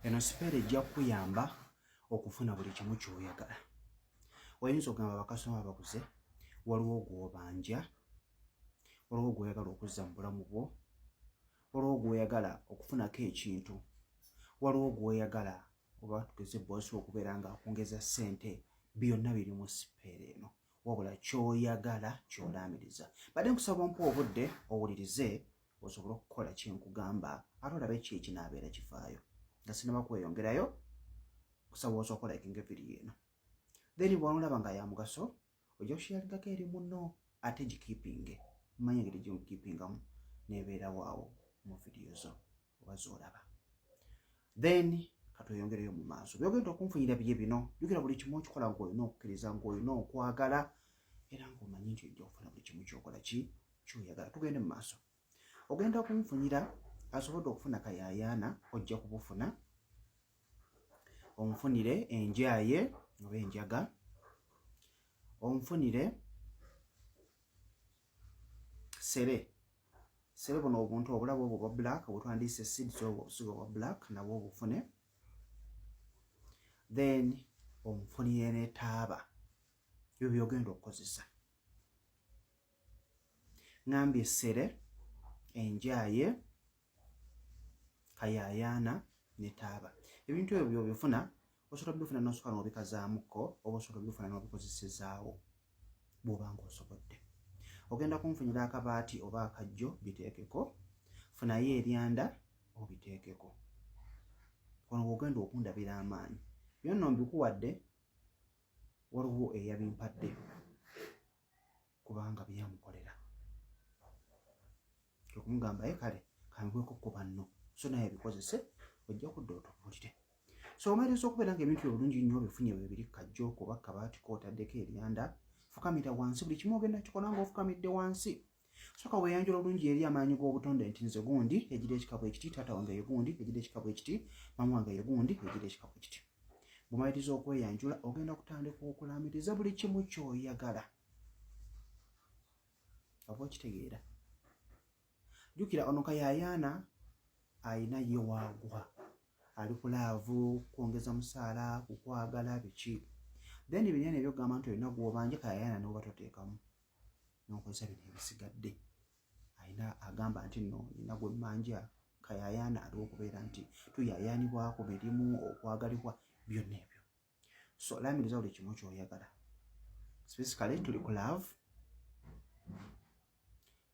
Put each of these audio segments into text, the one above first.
eno sipeera ejja kukuyamba okufuna buli kimu kyoyagala oyinza okugamba bakasoma bakuze waliwo gwobanja waliwo gwoyagala okuzza mu bulamu bwo waliwo gwoyagala okufunako ekintu waliwo gwoyagala oba tugeze boosi okubeera nga akwongeza ssente byonna biri mu sipeera eno wabula kyoyagala kyolaamiriza badde nkusaba ompa obudde owulirize osobole okukola kyenkugamba ate olabe ki ekinaabeera kivaayo nga sinaba kweyongerayo kusaboosa okola ekinga eviri eno then bwonolaba nga yamugaso ojja kushiyalingako eri muno ate gikipinge manya engeri gyemukipingamu nebeerawo awo mu vidiyo zo oba zoolaba then katweyongereyo mu maaso byogenda okunfunira biye bino jukira buli kimu okikola ngaolina okukkiriza ngaolina okwagala era ngaomanyi nti ojja okufuna buli kimu kyokola ki kyoyagala tugende mu maaso ogenda okunfunira asobodde okufuna kayayaana ojja kubufuna onfunire enjaye oba enjaga onfunire sere sere buno obuntu obulabo obwo bwa black obutwandiise seeds obwo obusigo bwa black nabwo obufune then omufunire ne taaba ebyo byogenda okukozesa ngambye sere enjaye kayayaana ne taaba ebintu ebyo byobifuna osobola obifuna nosobola nobikazaamuko oba osobola obifuna nobikozesezaawo bwoba nga osobodde ogenda kunfunyira akabaati oba akajjo biteekeko funayo eryanda obiteekeko ono ogenda okundabira amaanyi byonna mbikuwadde waliwo eyabimpadde kubanga byeyamukolera okumugamba ye kale kambweko ku banno so naye bikozese ojja kudda otubuulire so omaliriza okubeera nga ebintu byobulungi nnyo bifunye webiri kajjo kuba kabaati kootaddeko eryanda fukamira wansi buli kimu ogenda kikola nga ofukamidde wansi soka weyanjula obulungi eri amaanyi g'obutonde nti nze gundi egira ekikabo ekiti taata wange ye gundi egira ekikabo ekiti mamu wange ye gundi egira ekikabo ekiti bumaliriza okweyanjula ogenda kutandika okulaamiriza buli kimu kyoyagala oba okitegeera jukira ono kayayaana alina ye waagwa ali ku laavu kwongeza musaala kukwagala biki then binene ebyokugamba nti olina gwobanja kayayaana noba toteekamu nokozesa bino ebisigadde alina agamba nti no nina gwemmanja kayayaana aliwo okubeera nti tuyayaanibwako mirimu okwagalibwa byonna ebyo so olamiriza buli kimu kyoyagala specifically tuli ku love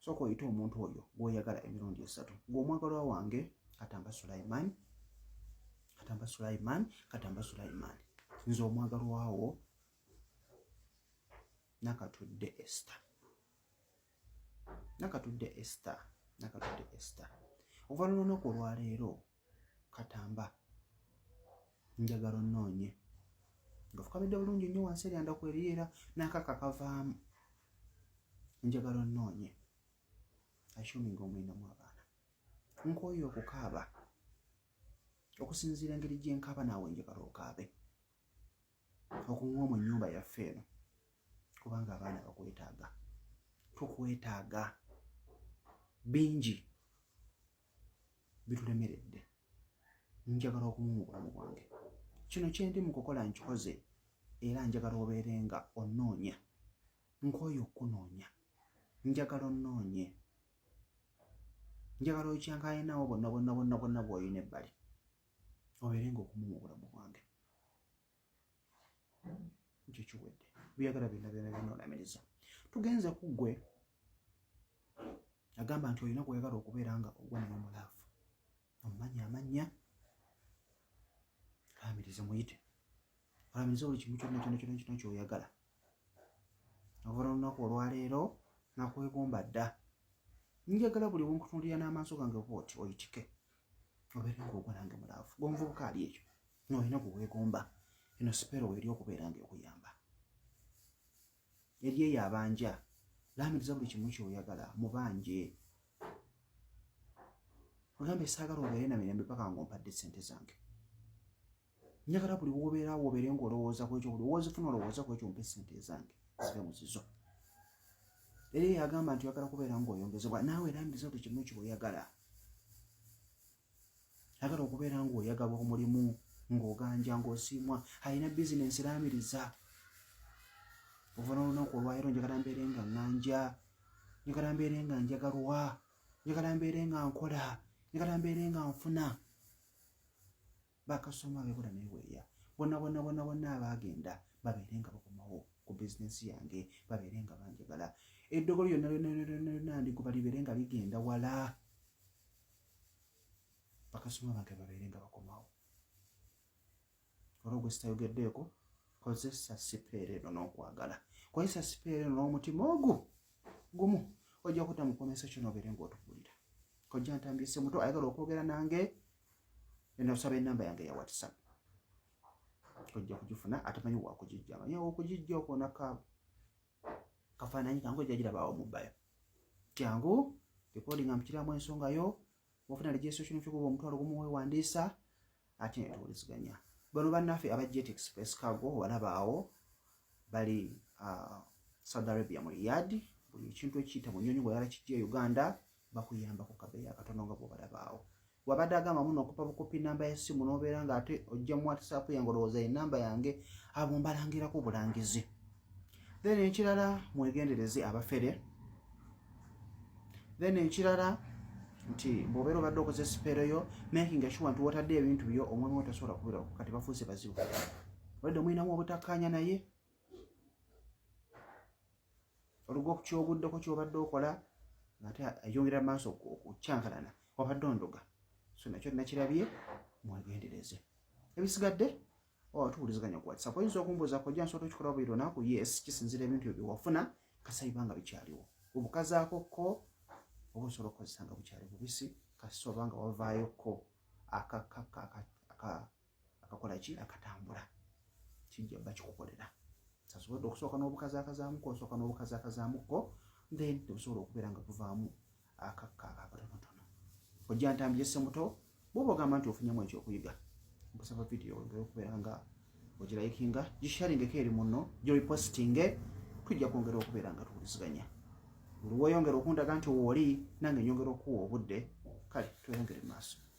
sooka oyite omuntu oyo gwoyagala emirundi esatu gweomwagalwa wange katamba sulaiman katamba sulaiman katamba sulaiman nze omwagalwawo nakatudde esta nakatudde esta nakatudde esta okuva lulunaku olwaleero katamba njagala onoonye nga fukamidde bulungi nnyo wansi eryanda kweriera nakaka kavaamu njagala onoonye ashuminga omwinamu abaana nkwoyo okukaaba okusinziira engeri gyenkaaba naawe njagala okaabe okunywa mu nyumba yaffe eno kubanga abaana bakwetaaga tukwetaaga bingi bitulemeredde njagala okumu mu bulamu bwange kino kyendi mu kukola nkikoze era njagala obeere nga onnoonya nkooyo okukunoonya njagala onnoonye njagala okyankalinawo bonna bonna bonna bonna bw'olina ebbali obeere nga okumu mu bulamu bwange ekyo kiwedde byagala byonna byona byona olamiriza tugenze ku ggwe agamba nti olina kweyagala okubeera nga ogwa naye omulaavu omumanyi amannya amirize muyite amirize buli kimu kyonna kyona kyona kyona kyoyagala okuva olunaku olwaleero nakwegomba dda njagala buli wonkutunulira n'amaaso gange oba oti oyitike obeere ngaogwa nange mulaavu gomvubuka ali ekyo nolina kuwegomba eno sipero weri okubeera nga okuyamba yali eyo abanja lamiriza buli kimu kyoyagala mubanje ogambe saagala obeere na mirembe paka nga ompadde sente zange njagala buli wobeera wobeere nga olowooza kwekyo buli wozifuna olowooza kwekyo mpe sente zange zibe muzizo era eyagamba nti oyagala kubeera nga oyongezebwa naawe lamiriza buli kimu kyoyagala agala okubeera ng'oyagalwa omulimu ng'oganja ng'osiimwa alina bizinensi raamiriza ova n'olunaku olwayiro njagala mbeere nga ŋŋanja njagala mbeere nga njagalwa njagala mbeere nga nkola njagala mbeere nga nfuna bakasoma bekola neweeya bonabonabonabona abaagenda babeere nga bakomawo ku bizinensi yange babeere nga banjagala eddogo lyonna lyonna ndiguba libeere nga ligenda wala bakasoma bange babeere nga bakomawo olwo gwe sitayogeddeeko kozesa sipeera eno n'okwagala kozesa sipeera eno n'omutima ogwo gumu ojja kuta mukomesa kyonobeere ngaotubulira kojja ntambise muto ayagala okwogera nange Nosaba enamba yange ya WhatsApp ojja kugifuna atamanyi wakugijja manyi okugijja okwo naka kafaananyi kangu ojja girabaawo mu bayo kyangu recording amukiramu ensonga yo ofuna registration fee kuba omutwalo gumu wewandiisa ate netuwuliziganya bano bannaffe aba jet express cargo walabaawo bali uh, saudi arabia mu riyadi buli ekintu ekiyita mu nyonyi bweyala kijja e uganda bakuyamba ku kabeeyi akatono nga bwobalabaawo wabadde agamba muno okupa bukopi namba ya simu nobeera nga ate ojja mu whatsapp yange olowooza enamba yange abo mbalangirako obulangizi then ekirala mwegendereze abafere then ekirala nti bwobeera obadde okoze sipeero yo making sure nti wotadde ebintu byo omwami wo tasobola kubirako kati bafuuse bazibu olwadde omulinamu obutakkaanya naye oluga okukyoguddeko kyobadde okola ngaate ayongera maaso okukyankalana wabadde ondoga so nakyo nakirabye mwegendereze ebisigadde oba tuwuliziganya ku whatsapp oyinza okumbuuza kojja nsobola okikola buli lunaku yes kisinzira ebintu ebyo byewafuna kasayiba nga bikyaliwo obukazaako ko oba osobola okukozesa nga bukyali bubisi kasita oba nga wavaayo ko akakakka akakola ki akatambula kijja bakikukolera sasobodde okusooka n'obukazakazaamuko osooka n'obukazakazaamuko then tebusobola okubeera nga buvaamu akakka akakatonotono ojja ntambi yesse muto bwoba ogamba nti ofunyamu ekyokuyiga nkusaba vidiyo wengere okubeera nga ogirayikinga gisharingeko eri muno giripositinge tujja kwongera okubeera nga tuwuliziganya buli weyongera okundaga nti wooli nange nyongera okuwa obudde kale tweyongere maaso